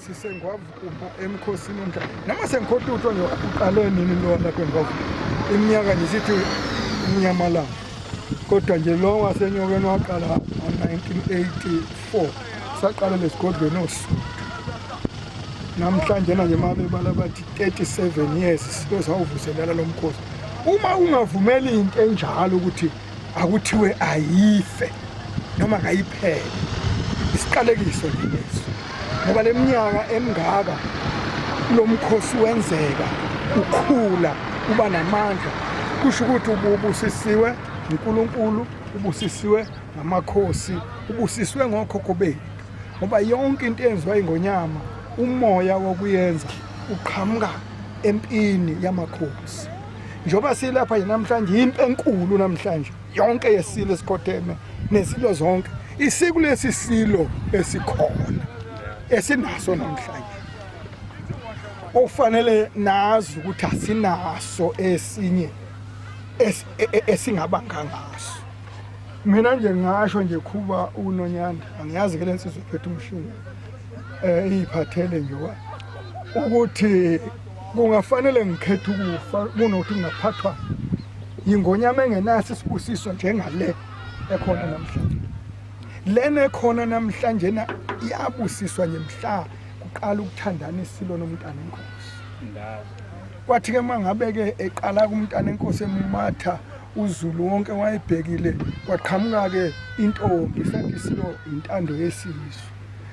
sisengwavukumba emkhosini omdla noma sengikhohlutho nje uqale nini lowa lapho engwavu iminyaka nje sithi umnyamalanga kodwa nje lo wasenyokeni waqala ngo-1984 saqala lesigodlweni osuthu namhlanje na nje mabebala bathi 37 years sibe sawuvuselela lo mkhosi uma ungavumeli into enjalo ukuthi akuthiwe ayife noma kayiphele isiqalekiso lesi ngoba leminyaka emingaka lomkhosi wenzeka ukhula uba namandla kusho ukuthi ubusisiwe uNkulunkulu ubusisiwe ngamakhosi ubusisiwe ngokhokho bethu ngoba yonke into eyenziwa ingonyama umoya wokuyenza uqhamuka empini yamakhosi njengoba silapha nje namhlanje yimpi enkulu namhlanje yonke yesilo esikhotheme nezilo zonke isiko lesi silo esikhona esinaso namhlanje okufanele nazi ukuthi asinaso esinye e, e, esingabanga ngaso mina nje ngasho nje khuba unonyana angiyazi ke lensizwe phethe umshini eh iyiphathele nje ukuthi kungafanele ngikhethe ukufa kunokuthi ngingaphathwa yingonyama engenaso isibusiso njengale ekhona namhlanje lena ekhona namhlanje na iyabusiswa nje mhla kuqala ukuthandana isilo nomntana enkosi kwathi ke mangabe ke eqala kumntana enkosi emumatha uzulu wonke wayebhekile kwaqhamuka ke intombi sathi isilo intando yesizwe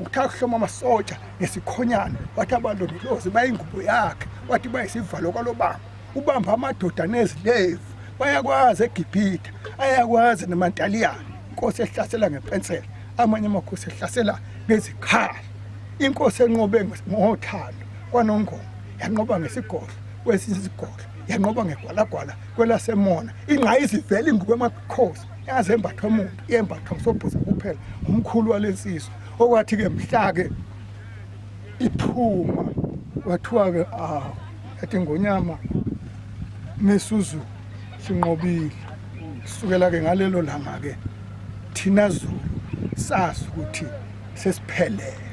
Uthatha uhloma amasotsha ngesikhonyane wathi abalondolozi bayingubo yakhe wathi bayisivalo kwalobamba ubamba amadoda nezilevu bayakwazi egibhitha ayakwazi nemantaliyane inkosi ehlasela ngepensela amanye amakhosi ehlasela ngezikhala inkosi enqobe ngothando kwanongoma yanqoba ngesigodlo kwesinye isigodlo yanqoba ngegwalagwala kwelasemona ingqayizivele ingubo emakhosi yaze embathwa umuntu yembathwa usobhuza kuphela umkhulu walensizwa okwathi ke mhlake iphuma wathiwa ke ah ethi ngonyama mesuzu sinqobile sukela ke ngalelo langa ke thina zulu sazi ukuthi sesiphelele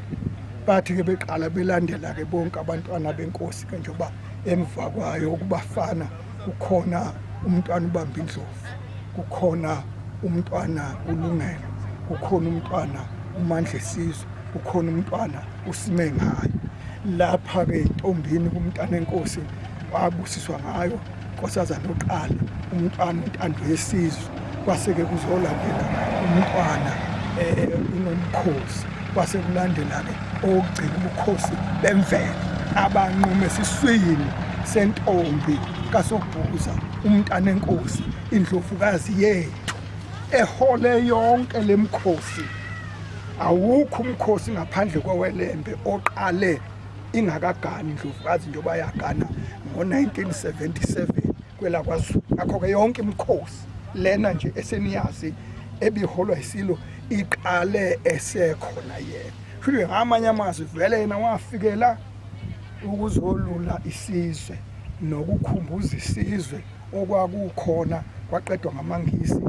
bathi ke beqala belandela ke bonke abantwana benkosi ke njengoba emva kwayo ukubafana kukhona umntwana ubamba indlovu kukhona umntwana ulungelo kukhona umntwana umandla esizwe kukhona umntwana usime ngayo lapha-ke intombini kumntana enkosi wabusiswa ngayo nkosazana oqala umntwana intando yesizwe kwase-ke kuzolapheka umntwana um unomkhosi kwase kulandela-ke okugcina ubukhosi bemvelo abanqume esiswini sentombi kasobhuza umntana enkosi indlovukazi yethu ehole yonke le mkhosi awukho umkhosi ngaphandle kwewelembe oqale ingakagani indlovukazi njengoba yagana ngo-1977 kwelakwaZulu ngakho-ke yonke imikhosi lena nje eseniyazi ebiholwa isilo iqale esekhona yena futhi ngamanye amazwi vele yena wafikela ukuzolula isizwe nokukhumbuza isizwe okwakukhona kwaqedwa ngamangisi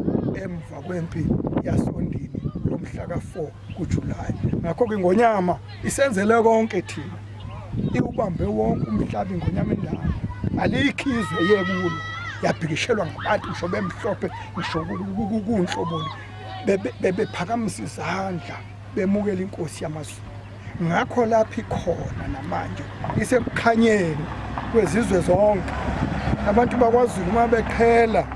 emva kwempi yasondini lomhla ka-4 kujulayi ngakho-ke ingonyama isenzele konke thina iwubambe wonke umhlabi ingonyama endala aliyikhizwe yekulo yabhikishelwa ngabantu ngisho bemhlophe ngisho kunhloboni bebephakamisa izandla bemukela inkosi yamazulu ngakho lapho ikhona namanje isekukhanyeni kwezizwe zonke abantu bakwazulu uma beqhela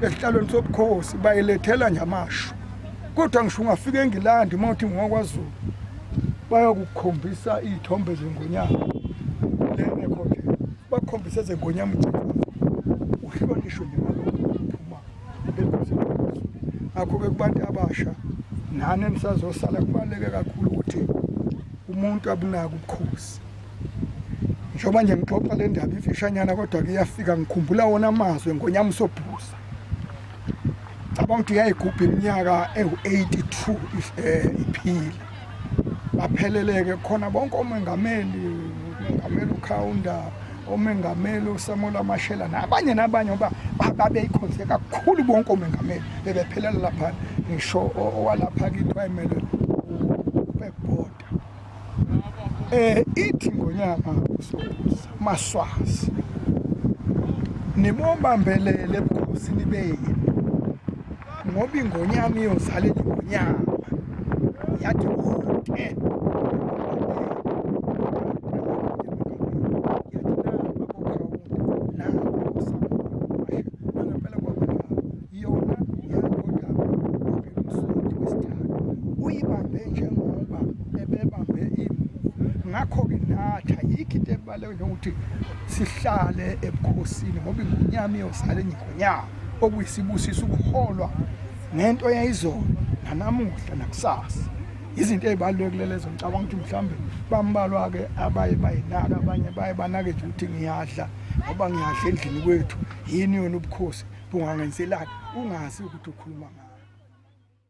esihlalweni sobukhosi bayilethela nje amasho kodwa ngisho ungafika engilandi uma uthi ngokwaZulu bayokukhombisa iy'thombe zengonyama lenekhothe bakhombise ezengonyama ugcikwazo uhlonishwe njengalokphuma ngakho-ke kubantu abasha nani enisazosala kubaluleke kakhulu ukuthi umuntu abunaka ubukhosi njengoba nje ngixoxa le ndaba imfishanyana kodwa-ke iyafika ngikhumbula wona amazwi engonyama usobhuza cabanga ukuthi uyayigubha iminyaka ewu-82 eh, iphile bapheleleke khona bonke omengameli umengameli ukhawunda omengameli usamuel amashela nabanye nabanye ngoba babeyikhonze kakhulu bonke omengameli bebephelela lapha ngisho owalapha kithi wayemelwe Mabhida eh ithi ngonyama usobuza maswazi nibobambelele ebukhosini benu ngoba ingonyama iyozala ingonyama yathi konke Yona yaqondama ubemsonti wesithathu uyibambe njengoba ebebambe imuva ngakho-ke natha yikho into ebaluleke njengokuthi sihlale ebukhosini ngoba ingonyama iyozala enye ingonyama okuyisibusiso ukuholwa ngento yayizolo nanamuhla nakusasa izinto ezibalulekile lezo ngicabanga ukuthi mhlawumbe bambalwa ke abaye bayinaka abanye baye banake nje ukuthi ngiyadla ngoba ngiyadla endlini kwethu yini yona ubukhosi bungangenzelani ungazi ukuthi ukhuluma ngani